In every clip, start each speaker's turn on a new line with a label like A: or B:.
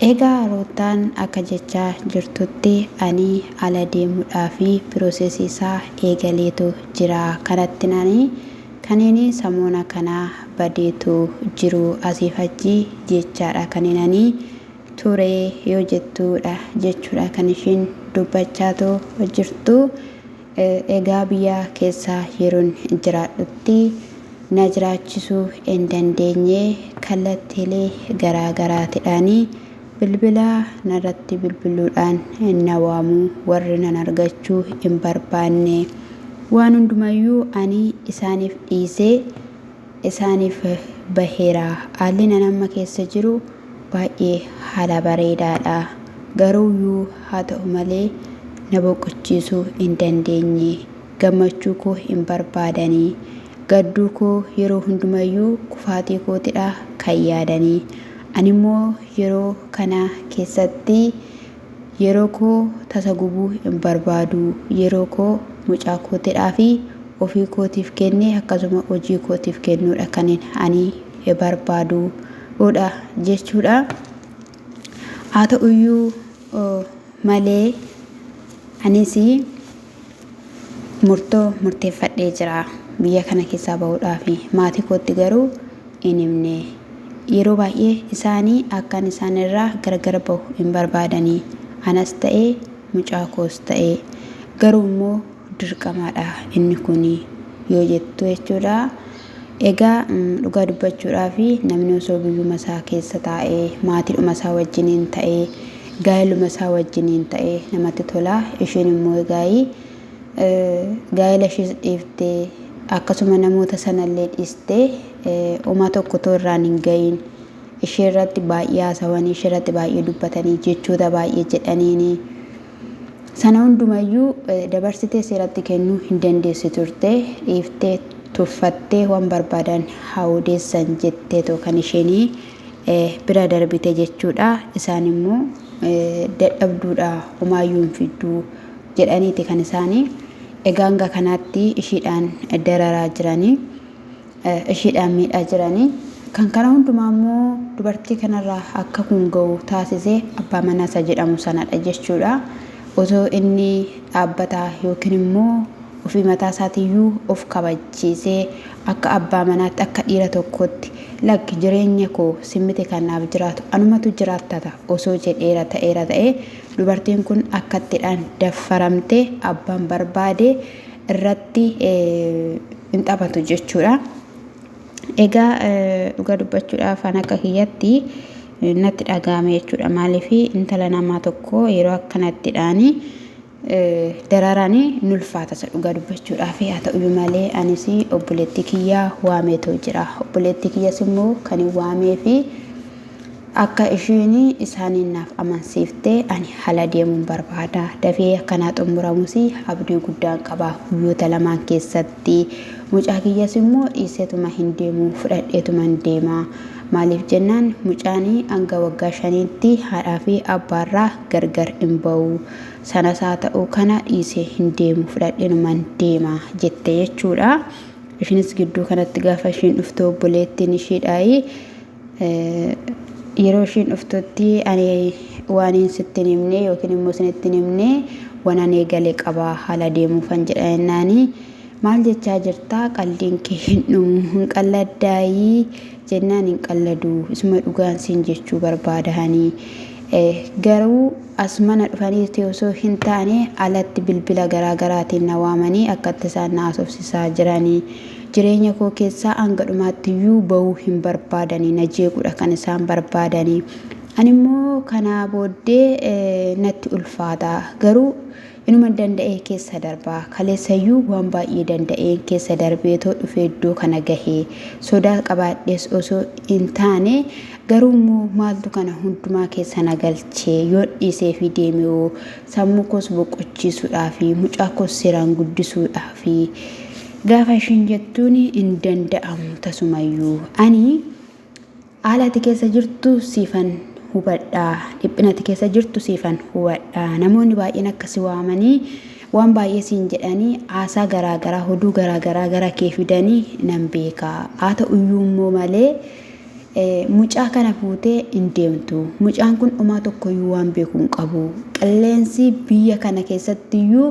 A: Egaa Ruuttaan akka jechaa jirtutti ani ala deemuudhaaf piroosesii isaa eegaleetu jira. Kanattin ani kaniin samoona kana badeetu jiru asiif achi jechaadha kaniin ani ture yoo jettuudha jechuudha kan ishiin dubbachaatu jirtu. Egaa biyya keessa yeroon jiraadhutti na jiraachisuu en dandeenye kallattiilee garaa garaatidhaan bilbila narratti bilbiluudhaan na waamu warri nan argachuu hin barbaanne. Waan hundumayyuu ani isaaniif dhiisee isaaniif baheera. Haalli ani amma keessa jiru baay'ee haala bareedaadha. Garuuyyuu haa ta'u malee na boqochiisuu hin dandeenye. Gammachuu koo hin barbaadani. Gadduu koo yeroo hundumayyuu kufaatii kootidha kan yaadani. Animmoo yeroo kana keessatti Yeroo koo tasa gubuu hin barbaadu. Yeroo koo mucaa kootidhaa fi ofii kootiif kennee akkasuma hojii kootiif kennuudha kanin ani barbaadu dha jechuudha. Haa ta'uyyuu malee anis Murtoo murteeffadhee jira. Biyya kana keessaa bahuudhaafi. Maatii kootti garuu hin himne. Yeroo baay'ee isaanii akkan isaan irraa gargar bahu hin barbaadani. Anas ta'e mucaa koos ta'e. Garuu immoo dirqamaadha inni kuni. Yoo jettu jechuudha. Egaa dhugaa dubbachuudhaaf namni osoo biyyuma isaa keessa taa'ee, maatiidhuma isaa wajjiniin ta'ee, gaa'eluma isaa wajjiniin ta'ee namatti tola. Isheen immoo egaa gaa'ela ishees dhiiftee akkasuma namoota sanallee dhiistee homaa tokko otoo irraan hin ga'iin ishee irratti baay'ee haasawanii, ishee irratti baay'ee dubbatanii, jechoota baay'ee jedhaniini. Sana hunduma iyyuu dabarsitee seeratti kennuu hin dandeessu turte, dhiiftee, tuffattee waan barbaadan haa odeessan jetteetoo kan isheen bira darbite jechuudha. Isaan immoo dadhabduudha homaa iyyuu hin fiddu jedhaniiti kan isaanii egaa hanga kanaatti ishiidhaan dararaa jiranii. ishiidhaan miidhaa jiranii. Kan kana hundumaa immoo dubartii kanarraa akka kun ga'u taasise abbaa manaa isa jedhamu sanadha jechuudha. Otoo inni dhaabbataa yookiin immoo ofii mataa isaatiiyyuu of kabachiisee akka abbaa manaatti akka dhiira tokkootti lakki jireenya koo simmiti kan naaf jiraatu anumatu jiraattata osoo jedheera ta'eera ta'ee dubartiin kun akkattidhaan daffaramte abbaan barbaade irratti hin taphatu jechuudha. Egaa dhugaa dubbachuudhaaf an akka kiyyatti natti dhaga'ame jechuudha. Maaliif intala namaa tokko yeroo akkanatti dhaanii dararaan nulfaata isa dhugaa dubbachuudhaaf haa ta'uyyuu malee anis obboleettii kiyyaa waameetoo jira. Obboleettii kiyyas immoo kan hin waamee fi Akka isheen isaaniin naaf amansiifte ani hala deemuun barbaada. Dafee akka naa xumuramus abdii guddaan qaba. Guyyoota lamaan keessatti mucaa kiyyas immoo dhiiseetuma hin deemu fudhadheetuman deema. Maaliif jennaan mucaan hanga waggaa shaniitti haadhaa fi abbaarraa gargar hin ba'u. Sanas haa ta'u kana dhiisee hin deemu fudhadheenuman deema jette jechuudha. Ishiinis gidduu kanatti gaafa ishiin dhuftu obboleettiin ishiidhaayi. Yeroo ishiin dhuftutti ani waaniin sitti hin himne yookiin immoo isinitti hin himne waan ani eegale qaba haala deemuufan jedha jennaani maal jechaa jirtaa qaldiin kee hin dhumu hin qalladdaayii jennaan hin qalladuu isuma dhugaan siin jechuu barbaadahanii garuu as mana dhufaniiti osoo hin taane alatti bilbila garaa garaatiin na waamanii akkatti isaan na haasofsisaa jiranii Jireenya koo keessaa hanga dhumaatti iyyuu ba'uu hin barbaadani. Na jeequudha kan isaan barbaadani. Ani immoo kanaa booddee natti ulfaata. Garuu inuman danda'ee keessa darba. Kaleessa iyyuu waan baay'ee danda'een keessa darbeetoo dhufee iddoo kana gahe. Sodaa qabaadhees osoo hin taane garuu immoo maaltu kana hundumaa keessa na galche? Yoon dhiisee fi deeme hoo? Sammuu koos boqochiisuudhaafi mucaa koos seeraan guddisuudhaafi. Gaafa ishiin jettuun hin danda'amu tasumayyuu ani haala ati keessa jirtu siifan hubadha dhiphina ati keessa jirtu siifan hubadha namoonni baay'een akka si waamanii waan baay'ee siin jedhanii haasaa garaagaraa hoduu garaagaraa gara kee fidanii nan beeka haa ta'uyyuu immoo malee mucaa kana fuutee hin deemtu mucaan kun dhumaa tokkoyyuu waan beeku hin qabu qilleensi biyya kana keessattiyyuu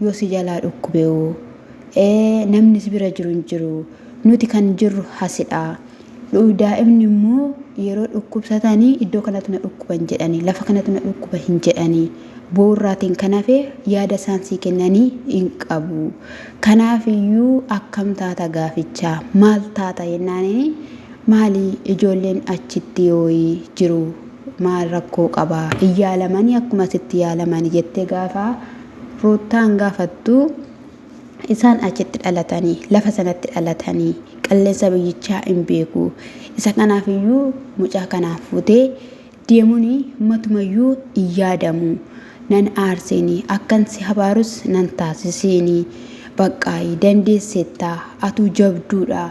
A: Yoo si jalaa dhukkube hoo? Ee, namni si bira jiru hin jiru. Nuti kan jirru hasidha. Dhu- Daa'imni immoo yeroo dhukkubsatanii iddoo kanatu na dhukkuba hin jedhani, lafa kanatu na dhukkuba hin jedhani. Boorraatiin kan hafe yaada isaan sii kennanii hin qabu. Kanaaf iyyuu akkam taata gaaficha? Maal taata jennaaniin maali ijoolleen achitti yooyi jiru maal rakkoo qaba? Hin yaalamanii akkuma asitti yaalamani jettee gaafa Ruuttaan gaafattu, Isaan achitti dhalatanii, lafa sanatti dhalatanii, qilleensa biyyichaa in beeku. Isa kanaaf iyyuu mucaa kanaa fuutee deemuun matuma iyyuu in yaadamu. Nan aarseeni, akkan si habaarus nan taasiseeni. Baqqaayi, dandeesseetta, atuu jabduudha,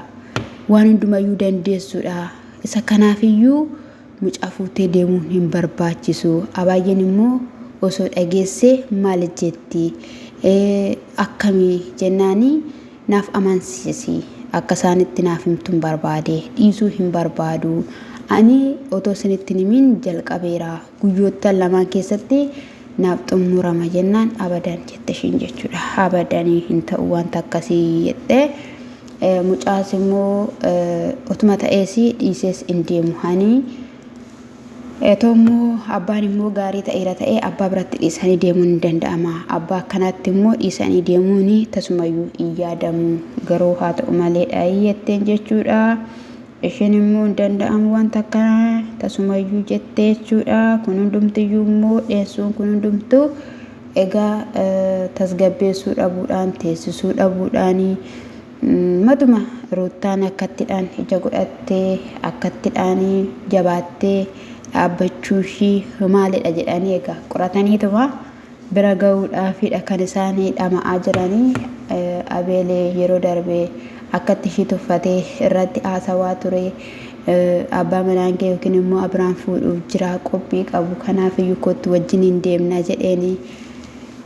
A: waan hundumayyuu dandeessuudha. Isa kanaaf iyyuu Mucaa fuutee deemuun hin barbaachisu. Abaayyeen immoo osoo dhageesse maal jetti? Akkami jennaani naaf amansiisi. Akka isaanitti naaf himtun barbaade. Dhiisuu hin barbaadu. Ani otoo isinitti hin himin jalqabeera. Guyyoottan lamaan keessatti naaf xumurama jennaan abadan jette ishiin jechuudha. Abadanii hin ta'u wanta akkasii jette. Mucaas immoo otuma ta'ees dhiisees in deemu hanii Etoo immoo abbaan immoo gaarii ta'eera ta'ee abbaa biratti dhiisanii deemuun hin danda'ama. Abbaa akkanaatti immoo dhiisanii deemuun tasumayyuu hin yaadamu. Garuu haa ta'u malee dhaayii jetteen jechuudha. Ishiin immoo hin danda'amu wanta akkanaa tasumayyuu jette jechuudha. Kun hundumtiyyuu immoo dheessuun kun hundumtuu egaa tasgabbeessuu dhabuudhaan teessisuu dhabuudhaani matuma ruuttaan akkattidhaan ija godhattee akkattidhaan jabaattee dhaabbachuu ishii maalidha jedhanii egaa qorataniituma bira gahuudhaafidha kan isaan dhama'aa jiranii. Abeel yeroo darbe akkatti ishii tuffate irratti haasawaa ture. Abbaa manaan kee yookiin immoo Abiraam fuudhuuf jira qophii qabu kanaaf iyyuu kottu wajjin hin deemna jedheeni.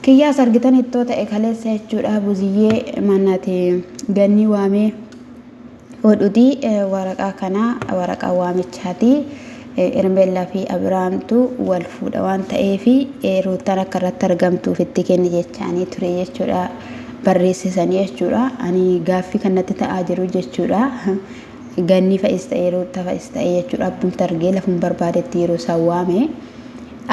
A: Kiyyaas argitan ittoo ta'e kaleessa jechuudha buziyyee manati gannii waamee Odudi waraqaa kanaa waraqaa waamichaati. Hermeellaa fi Abiraamtu wal fuudha waan ta'eef Ruuttaan akka irratti argamtuuf itti kenni jechaanii ture jechuudha. Barreessisanii jechuudha. Ani gaaffii kan natti ta'aa jiru jechuudha. Ganni fa'is ta'ee Ruutta fa'is ta'ee jechuudha. Abbumti argee lafuma barbaadetti yeroo isaan waame.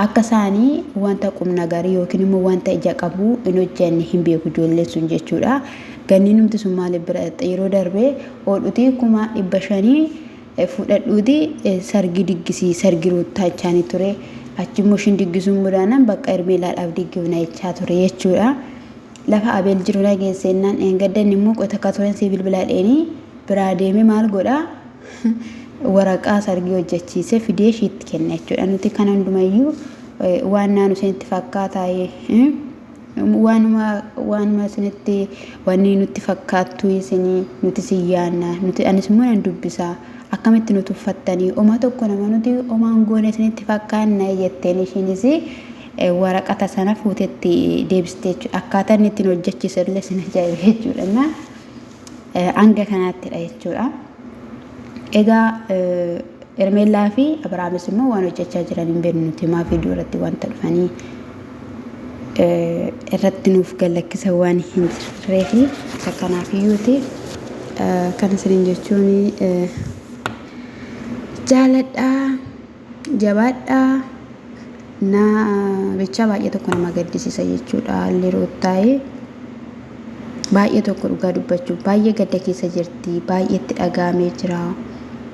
A: Akka isaani wanta qumnagarii yookiin immoo wanta ija qabu hin hojjanne hin beeku ijoolleen sun jechuudha. Ganninumti sun maaliif bira dhaqxe yeroo darbe oodhutii kuma dhibba shanii fudhadhuuti sargii diggisii sargi ruuttaa jechaanii ture. Achi immoo ishiin diggisuu hin mudaanaan bakka Hermeelaadhaaf diggifna jechaa ture jechuudha. Lafa Abeel jiru na geesseennaan dheengadda inni immoo qota akka turen sii bilbilaadheenii biraa deeme maal godha waraqaa sargii hojjechiisee fidee ishiitti kenne jechuudha. Nuti kana hundumayyuu waan naanu isinitti fakkaataa waanuma waanuma isinitti wanni nutti fakkaattu isinii nuti sin yaanna nuti anis immoo nan dubbisaa akkamitti nu tuffattanii oma tokko nama nuti omaan goone isinitti fakkaanna jetteen ishiinis waraqata sana fuutetti deebistee jechuudha. Akkaataa inni ittiin hojjechiisu illee sin ajaa'ibe jechuudha. hanga kanaattidha jechuudha. Egaa Ermeellaa fi Abrahaamis immoo waan hojjechaa jiran hin beeknu nuti maaf iddoo irratti wanta dhufanii irratti nuuf gallakkisa waan hin jirree fi isa kanaaf iyyuuti kan isiniin jechuun jaaladhaa. Jabaadhaa naa bichaa baay'ee tokko nama gaddisisa jechuudha haalli ruuttaa'ee baay'ee tokko dhugaa dubbachuuf baay'ee gadda keessa jirti baay'ee itti dhagaamee jira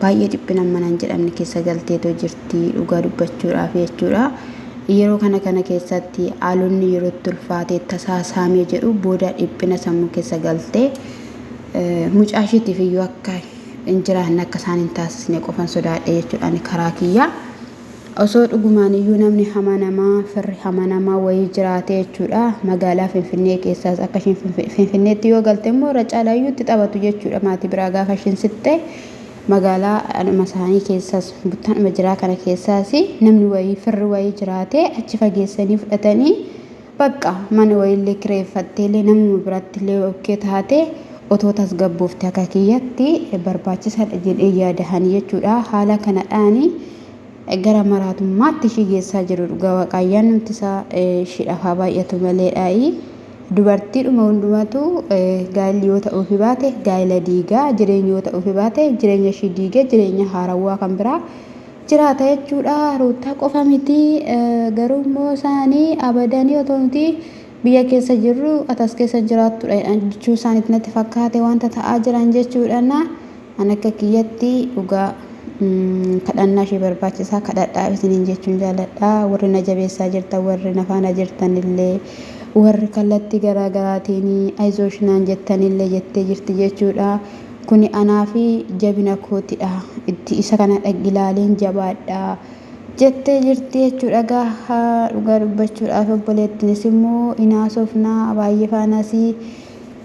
A: baay'ee dhiphina manan jedhamne keessa galteetoo jirti dhugaa dubbachuudhaaf jechuudha yeroo kana kana keessatti haalonni yeroo itti ulfaatee tasaa saamee jedhu booda dhiphina sammuu keessa galtee mucaashiitiif iyyuu akka hin jiraanne akka isaan hin taasisne qofan sodaadhe jechuudha ani karaa kiyyaa. Osoo dhugumaan iyyuu namni hamanamaa firri hamanamaa wayii jiraate jechuudha magaalaa Finfinnee keessaas akka ishiin Finfi- Finfinneetti yoo galte immoo irra caalaa iyyuu itti taphatu jechuudha maatii biraa gaafa ishiin siqxe magaalaa anuma isaanii keessaas buttaanuma jiraa kana keessaas namni wayii firri wayii jiraate achi fageessanii fudhatanii Baqqa mana wayiillee kireeffatteellee namuma birattillee yoo ok taate otoo tasgabboofte akka kiyyatti barbaachisaadha jedhee yaada ani jechuudha. Haala kanadhaani gara maraatummaatti ishii geessaa jiru dhugaa waaqaa ayyaannumti isaa ishiidhaaf haa baay'atu maleedhaayi. Dubartiidhuma hundumatu gaa'illi yoo ta'uufi baate gaa'ila diigaa jireenyi yoo ta'uufi baate jireenya ishii diigee jireenya haarawwaa kan biraa jiraata jechuudha ruuttaa qofa miti garuu immoo isaani abadanii otoo nuti biyya keessa jirru ati as keessa jiraattudha jedhan jechuu isaaniitti natti fakkaate wanta ta'aa jiran jechuudhaan an akka kiyyatti dhugaa kadhannaa ishee barbaachisaa kadhadhaaf isiniin jechuun jaaladha warri na jabeessaa jirtan warri na faana jirtan illee warri kallattii garaa garaatiin ayizoosh naan jettan illee jettee jirti jechuudha Kuni anaafi jabina kootidha. Itti isa kana dhag ilaaliin jabaadha. Jettee jirti jechuudha gaaha dhugaa dubbachuudhaaf obboleettinis immoo hin haasofna baay'ee faanasi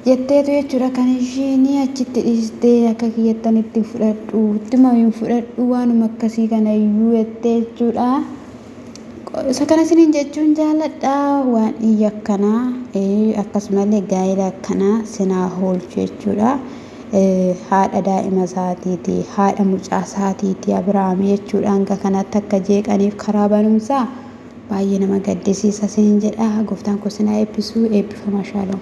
A: jetteetu jechuudha kan ishiin achitti dhiistee akka kiyyattan itti hin fudhadhu ittuma hin fudhadhu waanuma akkasii kana iyyuu jettee jechuudha. isa kana isiniin jechuun jaaladha waan iyya akkanaa akkasumallee gaa'ela akkanaa sinaa hoolchu jechuudha haadha daa'ima isaatiiti haadha mucaa isaatiiti abiraam jechuudha hanga kanatti akka jeeqaniif karaa barumsaa baay'ee nama gaddisiisa isiniin jedha gooftaan kun sinaa eebbisuu eebbifama shaalom